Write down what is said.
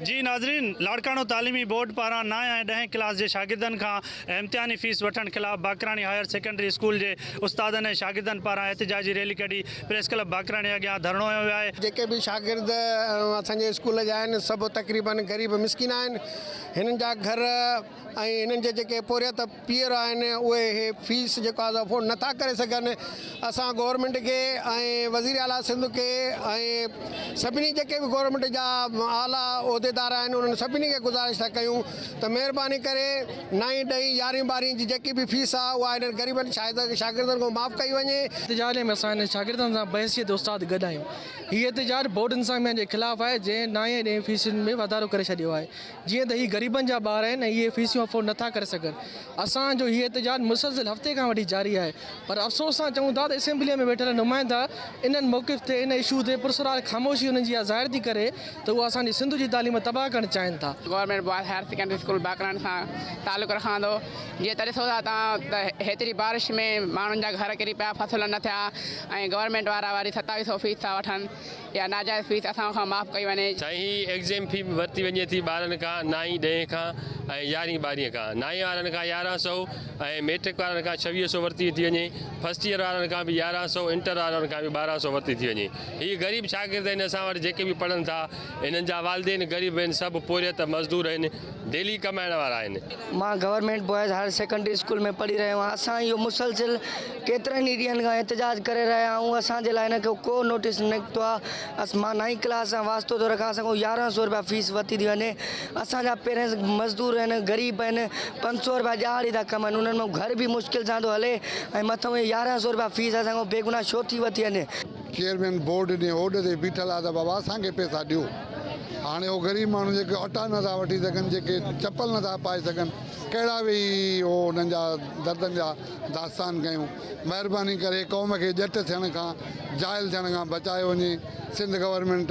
جي ناظرين لاڙڪاڻو تعليمي بورڊ پاران نائين ۽ ڏهين ڪلاس جي شاگردن کان امتحاني فيس وٺڻ خلاف باقراڻي هاير سيڪنڊري اسڪول جي استادن ۽ شاگردن پاران احتجاجي ريلي ڪڍي پريس ڪلب باقراڻي اڳيان ڌرڻو هنيو ويو آهي. جيڪي به شاگرد اسان جي اسڪول جا آهن سڀ تقريبن غريب مسڪين آهن هنن جا گهر ۽ هنن جا جيڪي پورهيت پيئر آهن اهي هي فيس جيڪو آهي سو افورڊ نٿا ڪري سگهن اسان گورنمينٽ کي ۽ وزير اعليٰ سنڌ کي ۽ سڀني جيڪي به گورنمينٽ جا اعليٰ عهديدار آهن انهن سڀني کي گذارش ٿا ڪيون ته مهرباني ڪري نائين ڏهين يارهين ٻارهين جي جيڪي به فيس آهي اها هنن غريبن شاگردن کان معاف ڪئي وڃي. احتجاج ۾ اسان هنن شاگردن سان بحيثيت استاد گڏ آهيون. هي احتجاج بورڊ انتظاميا جي خلاف آهي جنهن نائين ۽ ڏهين فيسن ۾ واڌارو ڪري ڇڏيو آهي. جيئن ته هي غريبن جا ٻار آهن ۽ اهي فيسيون افورڊ نٿا ڪري سگهن. اسان جو هي احتجاج مسلسل هفتي کان وٺي جاري آهي پر افسوس سان چئون ٿا ته اسيمبليء ۾ ويٺل نمائندا انهن موقف تي ان اشو تي پرسرار خاموشي انهن جي اها ظاهر ٿي ڪري ته هو اسان جي سنڌ جي تعليم تباهه ڪرڻ چاهين ٿا. Government boys higher secondary school Bakrani سان تعلق رکان ٿو جيئن ته ڏسو ٿا توهان ته هيتري بارش ۾ ماڻهن جا گهر ڪري پيا فصل نه ٿيا ۽ گورنمينٽ وارا وري ستاويهه سئو فيس ٿا وٺن يا ناجائز فيس اسان کان معاف ڪئي وڃي. سائين هي ايگزيم في به ورتي وڃي ٿي ٻارن کان نائين ڏهين کان ۽ يارهين ٻارهين کان نائين وارن کان يارهن سئو ۽ ميٽرڪ وارن کان ڇويهه سئو ورتي ٿي وڃي فرسٽ ييئر وارن کان به يارهن سئو انٽر وارن کان به ٻارهن سئو ورتي ٿي وڃي هي غريب شاگرد آهن اسان وٽ جيڪي به پڙهن ٿا انهن جا والدين غريب آهن سڀ پورهيت مزدور آهن. ديلي ڪمائڻ وارا آهن. مان government boys higher secondary school ۾ پڙهي رهيو آهيان، اسان اهو مسلسل ڪيترن ئي ڏينهن کان احتجاج ڪري رهيا آهيون، اسان جي لاء هن کي ڪو نوٽيس نه نڪتو آهي، مان نائين ڪلاس سان واسطو ٿو رکان، اسان کان يارهن سؤ رپيا فيس ورتي ٿي وڃي، اسان جا پيرنٽس مزدور آهن، غريب آهن، پنج سؤ رپيا ڏهاڙي ٿا ڪمائين، انهن جو گهر به مشڪل سان ٿو هلي ۽ مٿئون هي يارهن سؤ رپيا فيس اسان کان بيگناهه ڇو ٿي ورتي وڃي. چيئرمين بورڊ جي هوڏ تي بيٺل آ ته بابا اسان کي پيسا ڏيو هاڻي هو غريب ماڻهو جيڪي اٽا نٿا وٺي سگهن جيڪي چپل نٿا پائي سگهن ڪهڙا ويهي هو انهن جا دردن جا داستان ڪيون مهرباني ڪري قوم کي ڄٽ ٿيڻ کان جاهل ٿيڻ کان بچايو وڃي سنڌ گورنمينٽ